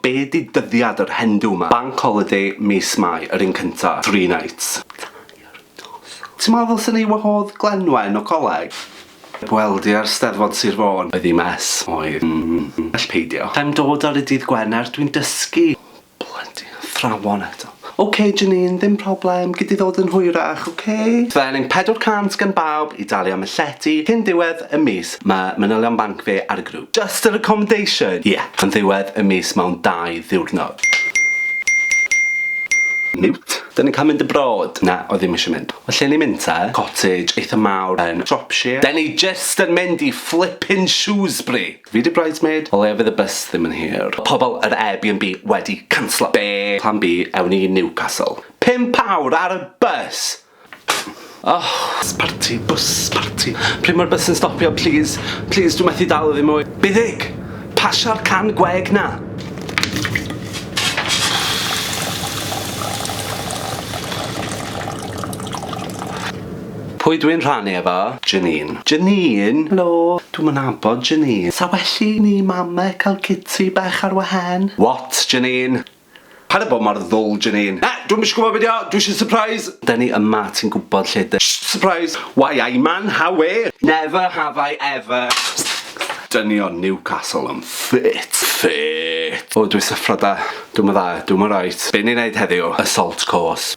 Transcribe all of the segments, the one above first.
Be di dyddiad yr Hendu ma? Bank holiday mis Mai yr un cynta. Three nights. Tair noson. Ti'n meddwl ddylsen ni wahodd Glenwen o coleg? Heb weld i ar Steddfod Sir Fôn. Oedd hi'n mess. Oedd. Well peidio. Sa i'n dod ar y dydd Gwener, dwi'n dysgu. Blydi athrawon eto. Ok Janine, ddim problem, gei di ddod yn hwyrach, ok? Felin 400 gan bawb i dalu am y llety cyn diwedd y mis, mae manylion banc fi ar y grŵp. Just yr accommodation? Ie, yn ddiwedd y mis mewn dau ddiwrnod. Mute. Dyn ni'n cael mynd abroad? Na, oedd ddim eisiau mynd. Wel lle ni'n mynd te? Cottage eitha mawr yn Shropshire. Dyn ni jyst yn mynd i flippin Shrewsbury! Fi 'di bridesmaid. O leia fydd y bys ddim yn hir. Mae pobl yr Airbnb wedi canslo. Be? Plan B, ewn ni i Newcastle. Pump awr ar y bys! Oh! Bws parti, bws parti. Pryd mae'r bys yn stopio plîs? Plîs, dwi methu dal iddi mwy. Byddig! Pasio'r can gweg 'na! Pwy dwi'n rhannu efo? Janine. Janine? Helo, dwi'm yn nabod Janine. Sa well i ni mame cael citi bach ar wahen? What? Janine. Paid a bod mor ddwl, Janine. Na, dwi'm isio gwybod be 'di o, dwi isio surprise! Dyn ni yma, ti'n gwybod lle dyn. Shh! Surprise! Why I man how where? Never have I ever Dynion Newcastle yn ffit! Ffit! O, dwi syffro 'da. Dwi'm yn dda, dwi'm yn reit. Be' ni'n neud heddiw? Assault course.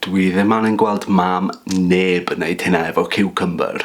Dwi ddim angen gweld mam neb yn neud hynna efo ciwcymbyr.